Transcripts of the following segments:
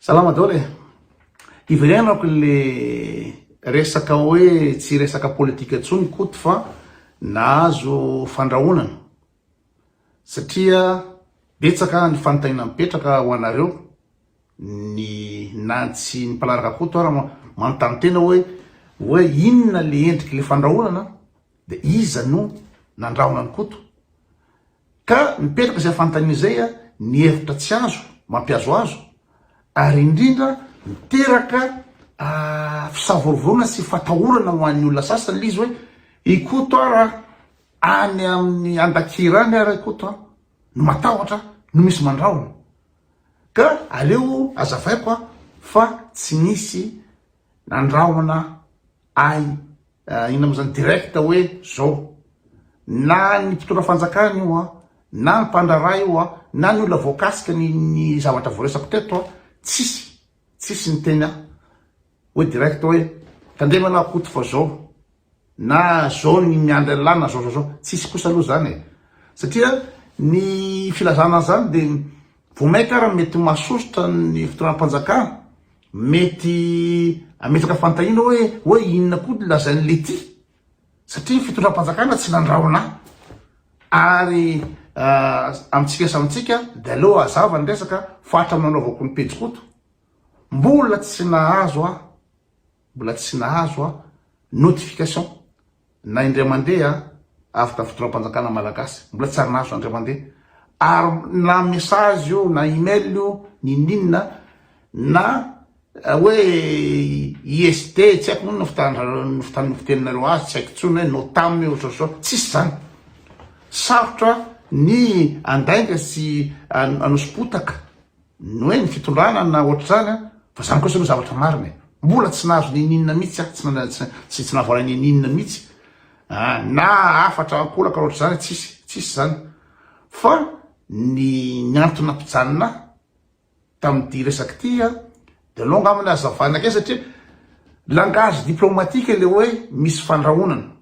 Salama daholo e! Hiverenako le resaka hoe tsy resaka politika intsony Koto fa nahazo fandrahonana satria betsaka ny fanontaniana mipetraka ho anareo ny na tsy ny mpanaraka Koto ary manontany tena hoe hoe inona le endriky le fandrahonana Dia iza no nandrahona an'i Koto? Ka mipetraka izay fanontaniana izay, ny hevitra tsy azo, mampihazohazo, ary indrindra miteraka fisavorovoroana sy fatahorana ho an'ny olona sasany ilay izy hoe, i Koto ara any amin'ny Andakira any ara i Koto a! no matahotra no misy mandrahona. Ka aleo azavaiko fa tsy nisy Nandrahona ahy iny amin'izany direct hoe zao, na ny mpitondra fanjakana io an, na ny mpandraharaha io an, na ny olona voakasika ny zavatra voaresako teto an, tsisy, tsisy niteny ahy hoe direct hoe tandremo ialahy Koto fa zao. Na zao ny miandry an'lah na zao zao zao tsisy kosa aloha zany e! satria ny filazana an'zany de vao maika ary mety masosotra ny fitondram-panjakana mety ametraka fantahiana hoe hoe inona koa ny lazain'i lety satria ny fitondram-panjakana tsy nandrahona ary amintsika samy tsika de aleo hazava ny resaka fa hatramin'ny nanaovako ny pejy koto mbola tsy nahazo aho Mbola tsy nahazo aho notification na indray mandeha avy tamin'ny fitondram-panjakana malagasy, mbola tsy ary nahazo indray mandeha ary na message io na email io ninininona na hoe ISD tsy haiko moa ny fitandra- ny fiteninareo azy tsy haiko intsony hoe notam io ohatr'ohatr' izao tsisy izany sarotra ny andainga sy anosom-potaka Ny hoe ny fitondrana na ohatr'izany an! Fa izany kosa aloha zavatra marina e! Mbola tsy nahazo n'inon'inona mihitsy aho, tsy tsy nahavoala n'inon'inona mihitsy an! Na hafatra ankolaka ohatr'izany tsisy, tsisy izany! Fa ny ny antony nampijanona ahy tamin'ity resaka ity an! De aleo angamba ny hazavana kely satria langage diplomatique ilay hoe misy fandrahonana.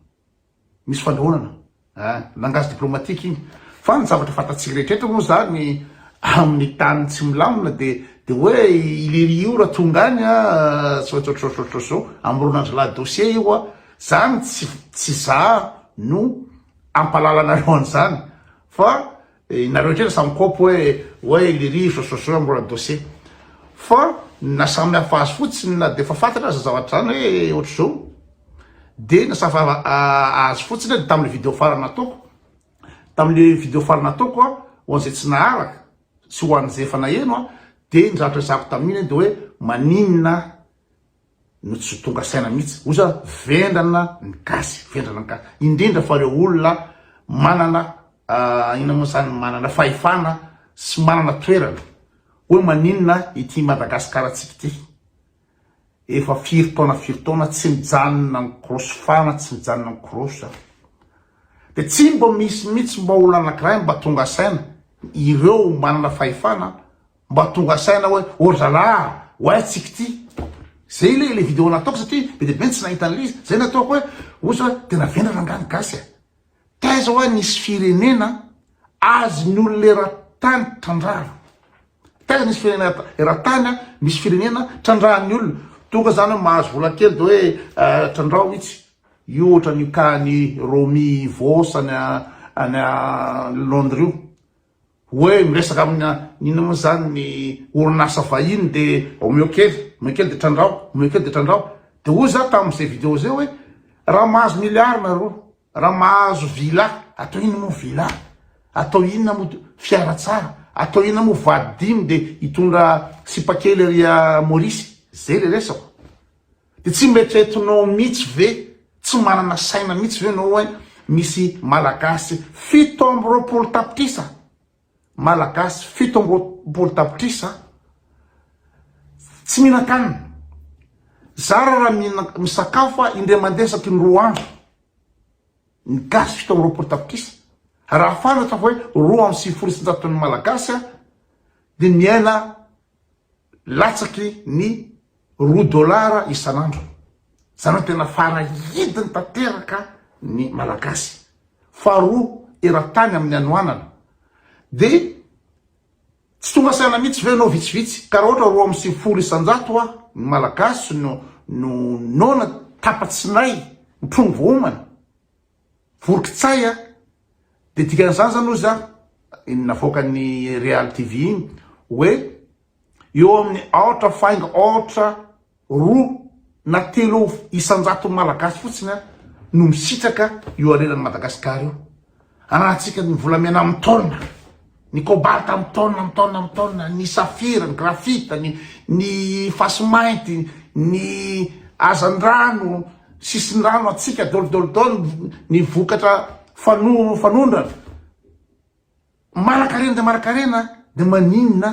Misy fanohanana ah, langage diplomatique iny. Fa ny zavatra fantatsika rehetra eto moa zany amin'ny tany tsy milamina dia dia hoe i lery io raha tonga any ah, tsy maintsy ohatrohatrohatr'izao, amoron'andro la dossier io ah. Zany tsy tsy za no hampahalalanareo an'izany fa Nareo kely samy kôpy hoe hoe le rivotra sosoa mbola dossier fa ny nasamihafa azy fotsiny na dia efa fantatra aza zavatra zany hoe ohatr'izao dia nasafa azy fotsiny hoe tamin'le vidéo farany nataoko tamin'le vidéo farany nataoko a ho an'izay tsy naharaka sy ho an'izay efa naheno a dia ny zavatra resahako tamin'iny dia hoe maninona no tsy tonga saina mihitsy oza vendrana ny gasy vendrana ny gasy indrindra fa reo olona manana inona moa zany manana fahefana sy manana toerana hoe maninona ity Madagascar antsika ity efa firy taona firy taona tsy mijanona ny korosy fana tsy mijanona ny korosy an de tsy mba misy mihitsy mba olona anakiray mba tonga saina ireo manana fahefana mba tonga saina hoe oh la la oay tsy k'ity zay le le vidéo nataoko satria be de be ny tsy nahita an'le izy zay nataoko hoe osa hoe tena vendrana nga ny gasy a taiza oa nisy firenena azy ny olona eran-tany trandrahana taiza nisy firenena eran-tany a misy firenena trandrahan'ny olona tonga zany hoe mahazo vola kely de hoe trandraho itsy io ohatran'io ka ny romi vos any any londres io Hoe miresaka amina inona moa izany ny orinasa vahiny dia omeo kely, omeo kely dia trandraho, omeo kely dia trandraho. Dia hoy za tamin'izay video izay hoe raha mahazo milliard nareo, raha mahazo villa, atao inona moa villa, atao inona moa fiara tsara, atao inona moa vady dimy dia hitondra sipa kely ery Maurice. Izay ilay resako. De tsy mba eritreretinao mitsy ve, tsy manana saina mitsy ve enao oe misy malagasy fito amby roapolo tapitrisa, malagasy fito amby roapolo tapitrisa tsy mihinan-kanina. Zara raha mihina, misakafo fa indray mandeha isaky ny roa andro, ny gasy fito amby roapolo tapitrisa, raha fantatra fa hoe roa amby sivifolo sy isan-jaton'ny malagasy de miaina latsaky ny roa dolara isan'andro. Izany hoe tena farahidiny tanteraka ny Malagasy. Faharoa eran-tany amin'ny hanoanana. Dia tsy tonga saina mihitsy ve ianao vitsivitsy? Ka raha ohatra roa amby sivifolo isan-jato aho, ny Malagasy no noana tapa-tsinay, mitrongy voaomana. Vorokitsay a! Dia dikan'izany izany hozy a! iny navoakan'ny Real TV iny hoe eo amin'ny aotra faingo aotra roa na telo isan-jaton'ny Malagasy fotsiny a! no misitraka io hareran'i Madagasikara io ananantsika ny volamena amin'ny taona. Ny cobalt amin'ny taonina, amin'ny taonina, amin'ny taonina, ny saphir, ny graphite, ny ny fasimainty, ny hazandrano, sisindrano hatsiaka, dôlidôlidôly, ny vokatra fano, fanondrana. Manankarena dia manankarena dia maninona?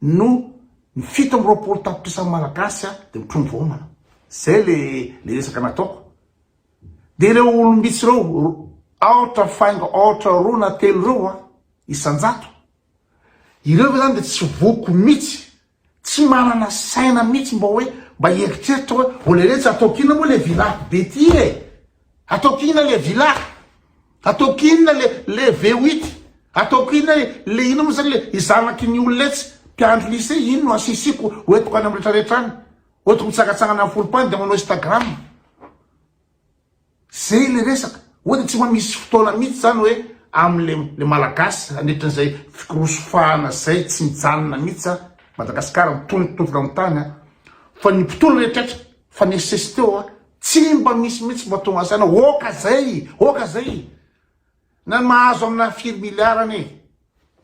no ny fito amby roapolo tapitrisa malagasy dia mitrongy vahoamana zay le le resaka nataoko de ireo olombitsy ireo aotra faingo aotra roa na telo ireo a isanjato ireo ve zany de tsy voko mitsy tsy manana saina mitsy mba hoe mba eritreritra hoe oleletsy ataokina moa le village be ty e Ataoko inona le villa? Ataoko inona le le V8? Ataoko inona e le inona moa zany le i zanaky ny olona etsy? Mpiandry lycée iny no asisiako ho entiko any amin'ny retraretra any. Hoentiko mitsangatsangana amin'ny foropany dia manao Instagram. Zay le resaka. Hoe dia tsy mba misy fotoana mihitsy zany hoe amle le malagasy nandritra izay fikorosofahana zay tsy mijanona mihitsy a. Madagasikara mitononkitonkona amin'ny tany a. Fa ny mpitondra rehetra fa nesesiteo a. Tsy mba misy mihitsy mba tonga saina oka zay oka zay na mahazo amina firy milliard anie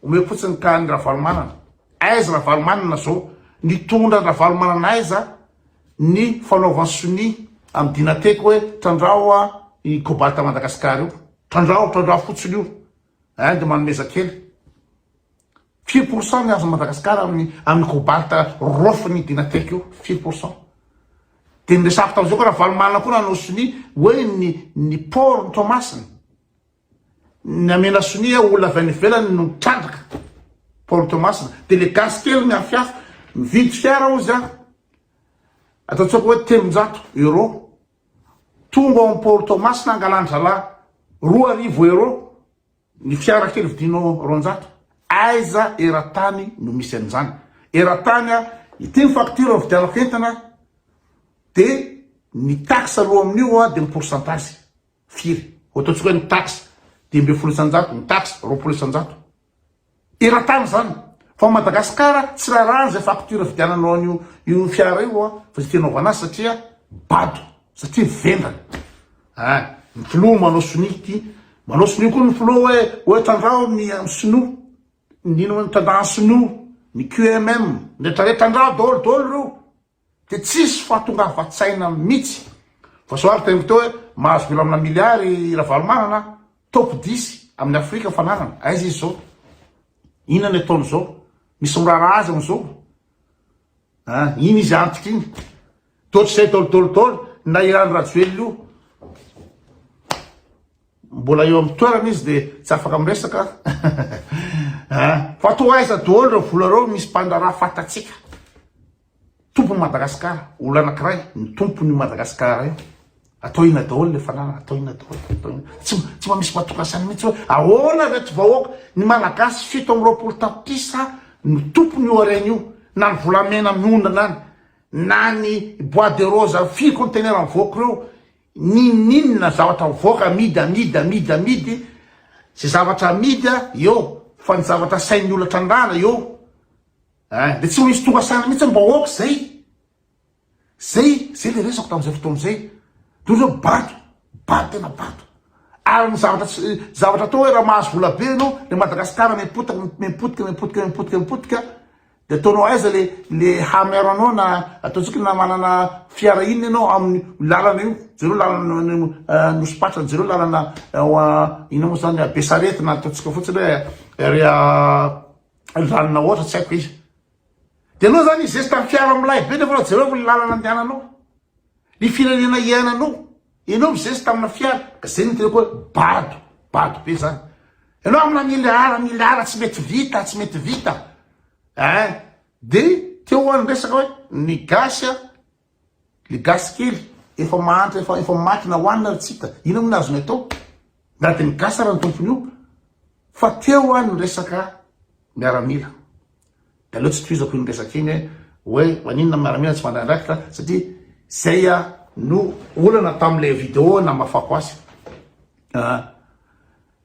omeo fotsiny ka any ravalomanana aiza ravalomanana zao nitondra ravalomanana aiza ny fanaovan sonia am dinateko hoe trandrao a i cobalt madagascar io trandrao trandrao fotsiny io Inde manomeza kely. Firy pourcent ny azon'i Madagasikara amin'ny amin'ny cobalt rofin'i Dinatek io? Firy pourcent? Dia ny resako tamin'izay koa Ravalomanana koa nanao sonia hoe ny ny port ny Toamasina. Ny amena sonia olona avy any ivelany no trandraka port Toamasina. Dia le gasy kely ny hafihafa mividy fiara hozy aho. Ataontsika hoe telonjato euro. Tonga ao amin'ny port Toamasina angalan-drahalahy roa arivo euro ny fiara kely vidinao roanjato. Aiza eran-tany no misy an'izany? Eran-tany a, ity ny facture nividianako entana dia ny taxe aloha amin'io dia ny pourcentage firy? Ho ataontsika hoe ny taxe dimy ambin'ny folo isan-jato, ny taxe roapolo isan-jato. Eran-tany zany. Fa ao Madagascar tsy rarahana zay facture vidiananao an'io io fiara io a, fa zay tianao hovanasa satria bado, satria vendrana. Ah, ny filoha manao sonia ity, manao sonia koa ny filoha hoe hoe tandrao ny amin'ny sinoa. Ny inona ny tandrahan'ny sinoa, ny QMM, ny retraretra tandrao daholo daholo reo. Dia tsisy fahatongavan-tsaina mitsy. Vao zao ary taingo teo hoe mahazo vola amina milliard i Ravalomanana, top dix amin'ny Afrika ny fananany. Aiza izy zao? Inona ny ataony zao? Misy miraraha azy amizao? Ha, iny izy antitra iny. Dotr'izay daolo daolo daolo, na i Rano Rajoelina io. Mbola eo amin'ny toerana izy dia tsy afaka miresaka ah, fa toa aiza daholo ireo vola ireo misy mpandraharaha fantatsika. Tompon'i Madagasikara, olona anankiray ny tompon'i Madagasikara io. Atao ina daholo ilay fananana, atao ina daholo, atao ina. Tsy tsy mba misy matokan'saina mihitsy hoe ahoana reto vahoaka ny Malagasy fito amby roapolo tapitrisa no tompony io harena io na ny volamena miondana any na ny bois de rose firy conteneur mivoaka ireo Ninoninona zavatra mivoaka amidy amidy amidy amidy ze zavatra amidy a eo fa ny zavatra asain'ny olona trandrahana eo eh de tsy maintsy tonga saina mihitsy ny vahoaka zay zay zay le resako tamzay fotoana zay de ohatry hoe bato bato tena bato ary ny zavatra tsy zavatra atao hoe raha mahazo vola be ianao le madagasikara mipotika mipotika mipotika mipotika mipotika De ataonao aiza le le hamero anao na ataontsika na manana fiara inona ianao amin'ny lalana io jereo lalana nosompatra jereo lalana ina moa zany be sarety na ataontsika fotsiny hoe ry lalana ohatra tsy haiko izy de anao zany izesta ny fiara milay be nefa jereo ny lalana andehananao ny firenena iainanao Enao mizesy tamina fiara, zay no teneniko hoe bado, bado be zany. Enao amina miliara, miliara tsy mety vita, tsy mety vita. Eh, de teo any resaka hoe ny gasy a, le gasy kely efa mahantra, efa efa makina hoanina ry tsika. Inona moa ny azony atao? Nady ny gasy ary ny tompony io fa teo any ny resaka miaramila. De aleo tsy tohizako iny resaka iny hoe maninona ny miaramila tsy mandray andraikitra satria zay no olana tamin'ilay vidéo namafako azy.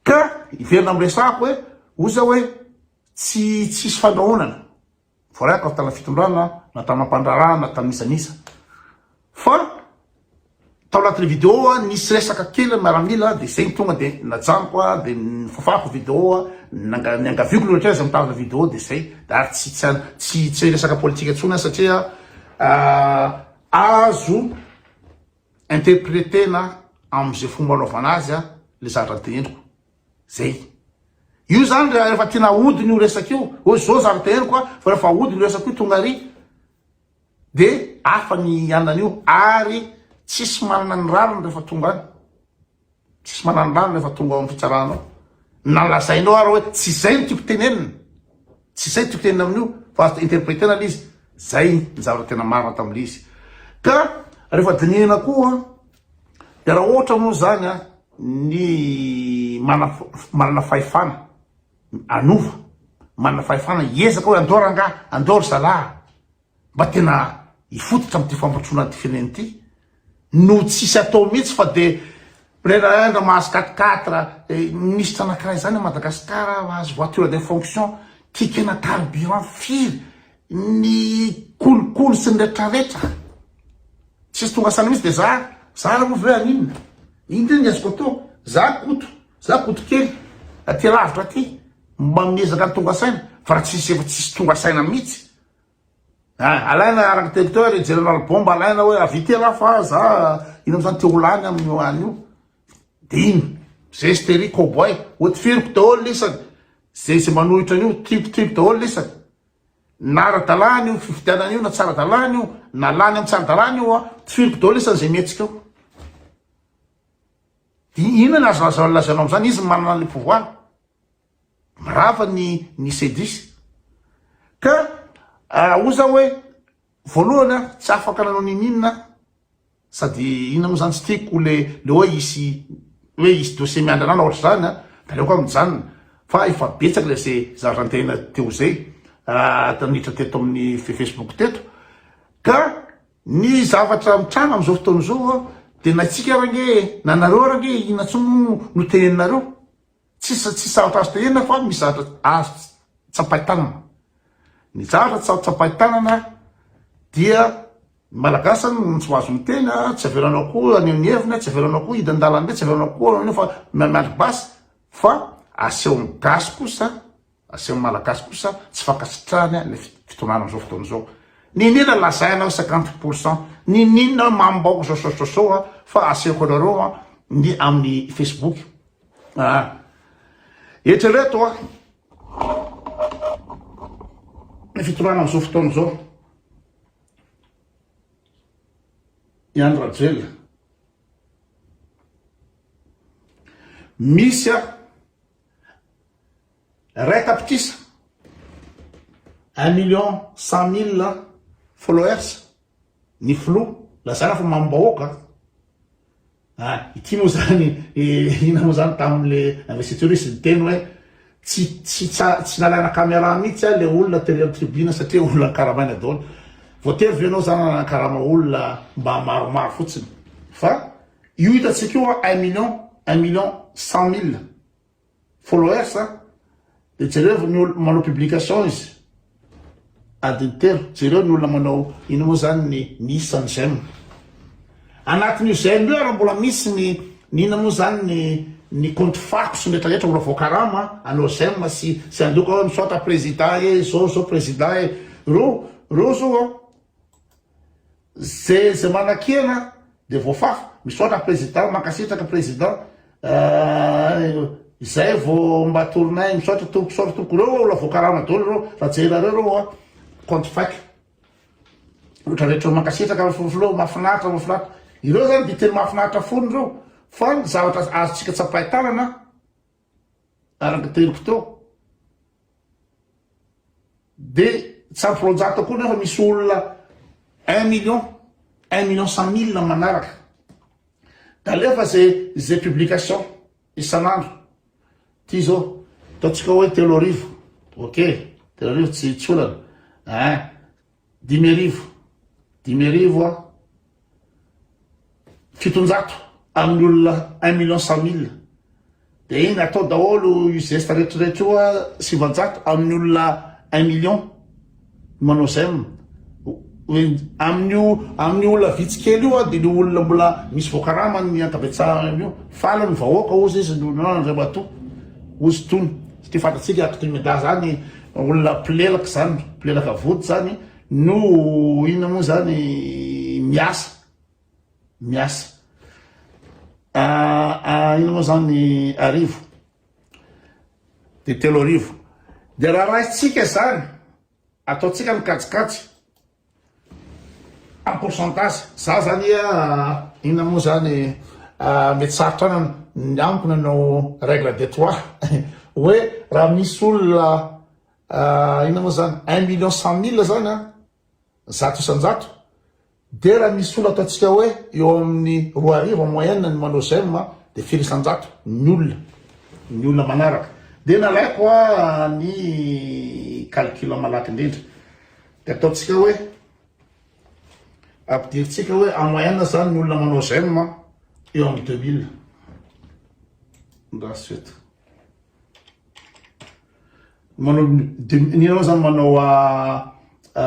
Ka hiverina amin'ny resahako hoe ozy aho hoe tsy tsisy fandrahonana voaray tao tana fitondrana na tana mpandraharahana tana isan isa fa tao anatin'ny video nisy resaka kely miaramila de zay ny tonga de najanoko a de nifafako video a nanga- niangaviako ny ohatraiza mitazona video de zay de ary tsy tsy an- tsy tsy resaka politika intsony aho satria ah, azo interpretena am'izay fomba anaovana azy a le zavatra teneniko Zay. Io zany rehefa tiana ahodina io resaka io, hoe zao zany teneniko a, fa rehefa ahodina io resaka io tonga ary de hafa ny hianan'io ary tsisy manana ny rariny rehefa tonga any. Tsisy manana ny rariny rehefa tonga ao amin'ny fitsarana ao. Na lazainao ary hoe tsy izay ny tiako tenenina. Tsy izay tiako tenenina amin'io fa azo interpretena ilay izy. Zay ny zavatra tena marina tamin'ilay izy. Ka rehefa dinihina koa Dia raha ohatra moa izany ny manana fahefana hanova, manana fahefana hiezaka hoe andao rangahy, andao ry zalahy mba tena hifototra amin'ity fampandrosoana an'ity firenena ity no tsisy atao mihitsy fa dia Prenaindra mahazo quatre quatre minisitra anankiray izany à Madagascar azo voiture de fonction, ticket-na carburant firy ny kolikoly sy ny retraretra tsisy tonga saina mihitsy de za za raha moa ve ary inona inona ny azoko atao za koto za koto kely aty lavitra aty mba miezaka ny tonga saina fa raha tsisy efa tsisy tonga saina mihitsy ah, alaina architecteur et general bomba alaina hoe avite raha fa za ino amizany te ho lany amin'ny hoany io de ino zestery cowboy oty firiko daholo lisany zay zay manohitra an'io tipotipo daholo lisany Na ara-dalàna io fifidianana io na tsy ara-dalàna io, na lany amin'ny tsy ara-dalàna io an, tifiriko daholo isany izay mihetsika eo. Dia inona no azo lazainao amin'izany? Izy no manana an'ilay pouvoir. Mirava ny ny CEDIS. Ka hoy za hoe voalohany an, tsy afaka nanao n'inon'inona aho. Sady inona moa zany tsy tiako le le oe hisy oe hisy dossier miandry anah na ohatry zany a de aleoko ah mijanona fa efa betsaka le ze zara antena teo zay ah taminitra teto amin'ny facebook teto ka ny zavatra mitranga amizao fotoana izao a de na itsika ary ange na nareo ary ange inona tsony moa no teneninareo. Tsisy tsisy zavatra azo tenenina fa misy zavatra azo tsapain-tanana. Ny zavatra tsy azo tsapain-tanana dia ny Malagasy zany no tsy mahazo miteny a, tsy avelanao koa haneho ny heviny a, tsy avelanao koa hidina an-dalambe, tsy avelanao koa haneho fa miandry basy fa asehon'ny gasy kosa Asehon'ny Malagasy kosa tsy fankasitrahany ny fitondrana amin'izao fotoana izao. Niniana lazaina hoe cinquante pour cent, niniana hoe mamim-bahoaka izao saosao an, fa asehoko anareo an, ny amin'ny Facebook. Ah. Eritrereto an, ny fitondrana amin'izao fotoana izao, i Andry Rajoelina, misy an, Ray tapitrisa, un million cent mille followers, ny filoha lazaina fa mamono bahoaka an! ity moa zany ina moa zany tamin'le investiture izy niteny hoe tsy tsy tsy nalaina caméra mihitsy an le olona teo amin'ny tribune satria olona karamaina daholo voatery ve ianao zany nanana karama olona mba maromaro fotsiny fa io hitantsika io un million un million cent mille Followers an! Dia jereo ny olona manao publications, adiny telo, jereo ny olona manao inona moa izany ny ny isan'ny j'aime. Anatin'io j'aime io ary mbola misy ny ny inona moa izany ny ny compte fako sy ny rehetra rehetra mbola voakarama anao j'aime sy sy handoka hoe misaotra prezida e, izao izao prezida e. Reo reo zao an! Ze ze manakena de voafafa. Misaotra président, mankasitraka président eh, izay vo mba torinay, misaotra tompoko, misaotra tompoko, reo ola voakarama dolo reo, fa jerareo reo oa, compte fake. Otra retreo, mankasitraka filoha, mafinaritra, mafinaritra, ireo zany de tena mafinaritra fony reo, fa ny zavatra azontsika tsapain-tanana, araka teriko teo de tsy ampy roanjato koa nefa misy olona un million un million cent mille manaraka de alefa ze ze publication isan'andro ty zao ataontsika hoe telo arivo ok telo arivo tsy tsy olana eh Dimy arivo, dimy arivo a, fitonjato amin'ny olona un million cent mille dia iny atao daholo io zesta rehetrarehetra io a, sivanjato amin'ny olona un million manao zem amin'io amin'ny olona vitsy kely io a dia ny olona mbola misy voakarama ny ankabetsahany io faly ny vahoaka ozy izy no andriamatoa ozy tony satria fantatsika akto imeda zany Olona mpilelaka zany, mpilelaka vody zany no inona moa zany miasa, miasa. Ah, ah, inona moa zany arivo, de telo arivo. De raha raisintsika zany, ataontsika ny kajikajy. En pourcentage za zany inona moa zany mety sarotra an ny amiko nanao règle de trois hoe raha misy olona inona moa zany un million cent mille zany an zato isan-jato de raha misy olona ataontsika hoe eo amin'ny roa arivo en moyenne ny manao j'aime de firy isan-jato ny olona ny olona manaraka de nalaiko ny calcul malaky indrindra Dia ataontsika hoe, ampidirintsika hoe en moyenne izany ny olona manao j'aime an, eo amin'ny 2000. Andraso eto. Manao, ny ianao izany manao a, a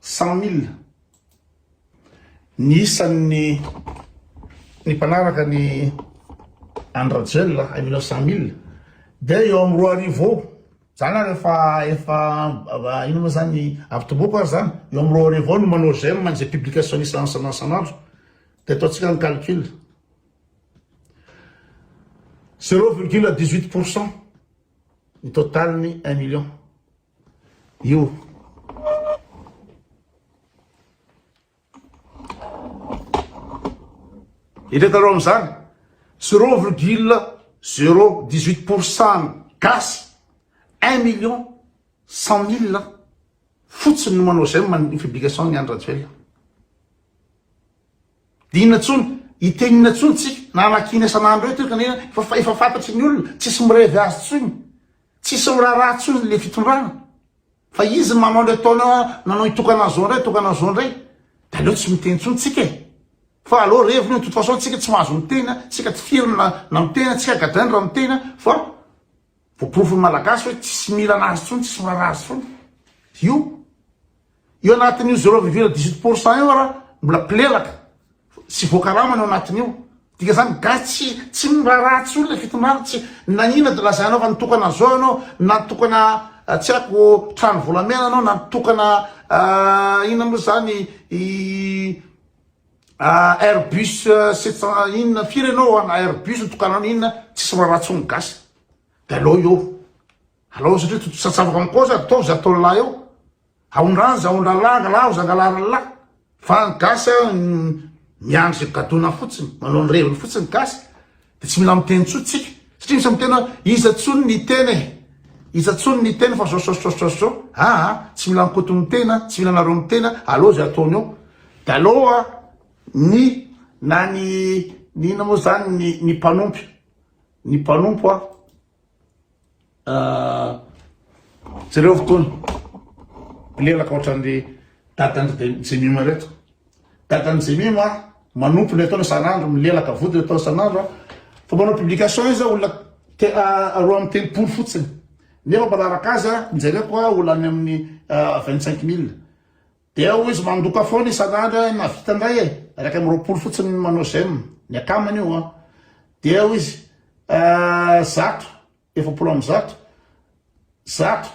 Cent mille ny isan'ny ny mpanaraka ny Andry Rajoelina hain'ireo cent mille dia eo amin'ny roa arivo eo, zany ary efa efa inona moa zany avy tomboako ary zany eo amin'ny roa arivo eo no manao j'aime an'izay publication isan'andro isan'andro dia ataontsika ny calcul zero virgule dix huit pour cent ny total ny un million. Io. Eretanao amin'izany, zero virgule zero dix huit pour cent gasy, un million cent mille fotsiny no manao j'aime ny publication-n'i Andry Rajoelina. Inona tsony, hiteny inona tsony tsika na hamakiana isan'andro eo teoka nena fa fa efa fantatry ny olona, tsisy mirevy azy tsony, tsisy miraraha tsony le fitondrana, fa izy manao an'ireo ataony an nanao itokana an'izao ndray itokana an'izao ndray, de aleo tsy miteny tsony tsika e, fa aleo revy ny hoe de toute façon tsika tsy mahazo miteny an, tsika tsy firy na na miteny an, tsika gadrainy raha miteny an, fa. Voaporofo ny Malagasy hoe tsisy mila anazy tsony, tsisy miraharaha azy tsony. Io, io anatin'io zero virgule dix huit pour cent io ara mbola mpilelaka sy voakarama ny ao anatin'io. Dika zany gasy tsy tsy miraharaha tsony le fitondrana, tsy nagnina de lazainao fa nitokana zao ianao, na nitokana tsy haiko trano volamena ianao, na nitokana inona moa zany i. Airbus sept cent inona firy ianao an Airbus ny tokananao inona tsisy miraharaha tsony ny gasy de alao eo alao satria tontosatsy afaka mikoa za ataovy za ataony lahy eo aondrany za aondrany lahy angalaho za angalaho ny lahy fa ny gasy an miandry ze gadona fotsiny manao ny reviny fotsiny ny gasy Dia tsy mila miteny intsony tsika satria misy miteny hoe iza intsony ny tena e, iza intsony ny tena fa zao zao zao zao zao aa, tsy mila ny Koto mitena, tsy mila anareo mitena, aleo izay ataony eo dia aleo a ny na ny ny inona moa izany ny ny mpanompy ny mpanompo a. Jereo fotoana, mpilelaka ohatran'ny dadan'i Jemima ireto. Dadan'i Jemima manompo ny ataony isan'andro, milelaka vody atao isan'andro, fa manao publication izy olona roa amby telopolo fotsiny, nefa manaraka azy, jereko olona any amin'ny vingt cinq mille. Dia hoy izy mandoka foana isan'andro na vita indray e, iraika amby roapolo fotsiny ny manao j'aime, ny akamany io an. Dia hoy izy eh, zato, efapolo amby zato, zato,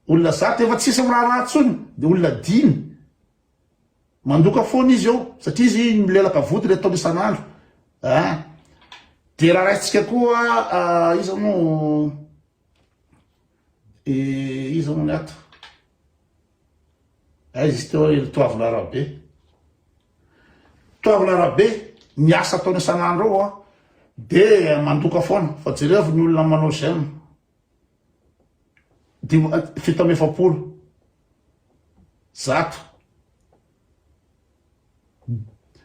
olona zato efa tsisy miraharaha intsony, dia olona dimy. Mandoka foana izy eo satria izy milelaka vody ilay ataony isan'andro. Ah. Dia raha raisintsika koa ah, iza moa De iza hono ato? Aiza izy teo ry Toavina Rabe? Toavina Rabe, ny asa ataony isan'andro ao dia mandoka foana fa jereo ny olona manao j'aime. Fito amby efapolo. Zato.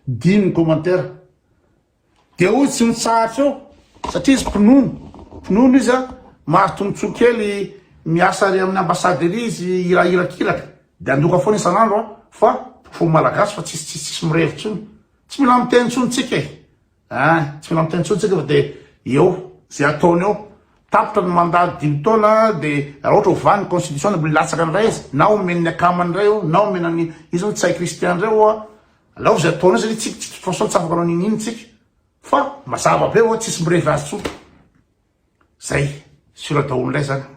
Dimy commentaire. Dia hoy tsy mitsahatra eo satria izy mpinono, mpinono izy an, mahazo tombontsoa kely miasa ary amin'ny ambassade ery izy hirahira kilaka. Dia andoka foana isan'andro an, fa ho malagasy fa tsisy tsisy tsisy mirevy intsony. Tsy mila miteny intsony tsika e. An, tsy mila miteny intsony tsika fa dia eo izay ataony eo. Tapitra ny mandat dimy taona dia raha ohatra hovany ny constitution dia milatsaka indray izy, na omen'ny akamany indray eo, na omena ny izy hono tsy hay christian indray ho'a. Alao izay ataonao satria tsy de toute façon tsy afaka manao n'inon'inona tsika fa mazava be oa tsisy mirevy azy tsony. Zay, sur daholo ndray zany.